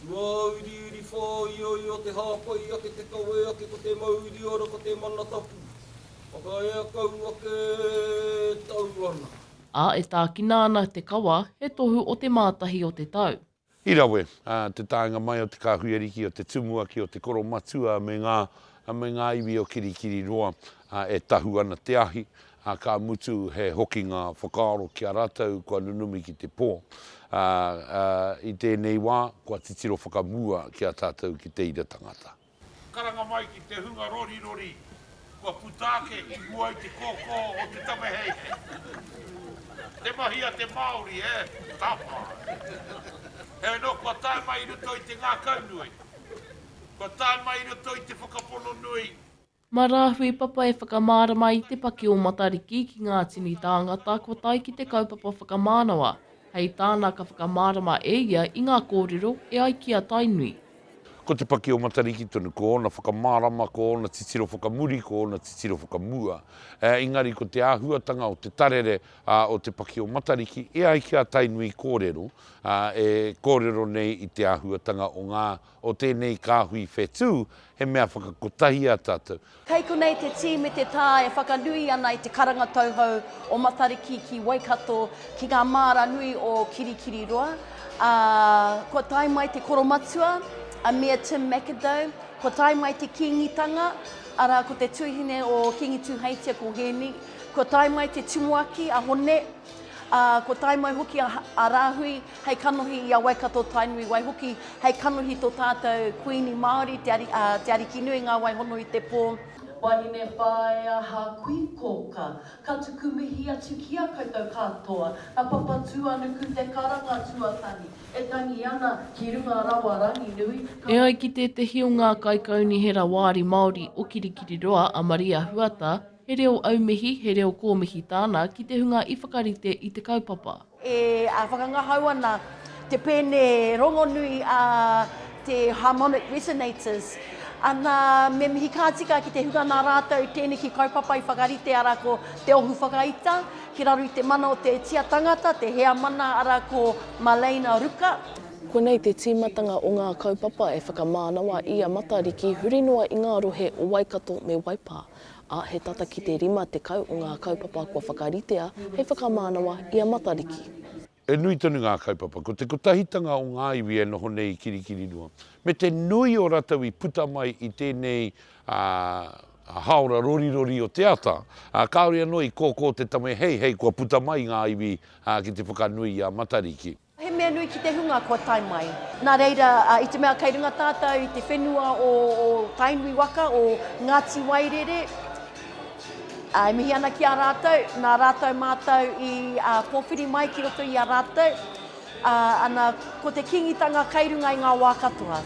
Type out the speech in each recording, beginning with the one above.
Tuauriuri Whāioio Te hāpai ake te kawē ake Ko te mauri ora ko te mana tapu Whakaea kau ake tau ana. Ā, e tākina ana te kawa, he tohu o te mātahi o te tau. I rawe te taenga mai o te kāhui ariki, o te tumuaki, o te koro matua me ngā, me ngā iwi o Kirikiriroa e tahu ana te ahi, ā, ka mutu he hokinga whakaaro ki a rātou kua nunumi ki te pō, ā, ā, i tēnei wā, kua titiro whakamua ki a tātou ki te ira tangata. Karanga mai ki te hunga rorirori kua puta ake i mua i te kōkō o te taweheihei. Te mahi a te Māori, e, tapa! Heoi anō, kua tae mai i roto i te ngākaunui, kua tae mai i roto i te whakapono nui. Mā Rāhui Papa e whakamārama i te paki o Matariki ki ngā tini tāngata kua tae ki te kaupapa whakamānawa, hei tāna ka whakamārama e ia i ngā kōrero e ai ki a Tainui. Ko te paki o Matariki tonu, ko ōna whakamārama, ko ōna titiro whakamuri, ko ōna titiro whakamua. Engari ko te āhuatanga o te tarere o te paki o Matariki e ai ki a Tainui kōrero, e kōrero nei i te āhuatanga o ngā o tēnei kāhui whetū, he mea whakakotahi ā tātou. Kei konei te tī me te tā e whakanui ana i te karanga tauhou o Matariki ki Waikato, ki ngā māra nui o Kirikiriroa, ā, kua tae mai te koromatua, a Mea Tim McAdow, kua tae mai te Kīngitanga, arā, ko te tūhine o Kīngi Tūheitia ko Hēni, kua tae mai te tumuaki, a Hone, ā, kua tae mai hoki a Rāhui. Hei kanohi i a Waikato Tainui waihoki, hei kanohi to tatou Kuini Maori, Te Arikinui nga wai hono i te po. Wahine Whaea ha Kui Koka, ka tuku mihi atu ki a koutou katoa, a Papatuanuku te karanga tuatahi, e tangi ana ki runga rawa Ranginui, ka. E ai ki tētehi o ngā kaikaunihera wāri Māori o Kirikiriroa a Maria Huata, He reo aumihi, he reo kōmihi tāna ki te hunga i whakarite i te kaupapa. E whakangahau ana te pēne rongonui a te harmonic resonators, ana, me mihi ka tika ki te hunga nā rātou tēneki kaupapa i whakarite, arā, ko Te Ohu Whakaita, ki raro i te mana o te tia tangata, te heamana, arā, ko Maleina Ruka. Konei te tīmatanga o ngā kaupapa e whakamānawa i a Matariki huri noa i ngā rohe o Waikato me Waipā. ā, he tata ki te 50 o ngā kaupapa kua whakaritea hei whakamānawa i a Matariki. He nui tonu ngā kaupapa, ko te kotahitanga o ngā iwi e noho nei i Kirikiriroa, me te nui o ratou i puta mai i tēnei haora rorirori o te ata, ā, kāore anō i kōkō te tame heihei kua puta mai ngā iwi ki te whakanui i a Matariki. He mea nui ki te hunga kua tae mai. Nā reira, i te mea kei runga tātou i te whenua o Tainui waka, o Ngāti Wairere, e mihi ana ki a rātou, nā rātou mātou i pōwhiri mai ki roto i a rātou, ana, ko te Kīngitanga kei runga i ngā wā katoa.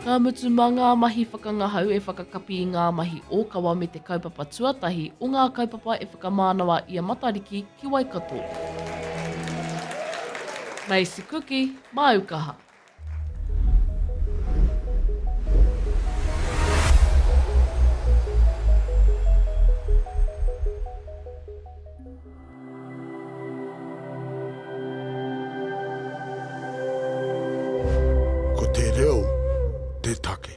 Ka mutu mā ngā mahi whakangahau e whakakapi i ngā mahi ōkawa me te kaupapa tuatahi o ngā kaupapa e whakamānawa i a Matariki ki Waikato. Macy Kuki, māu kaha. Ko te reo te take.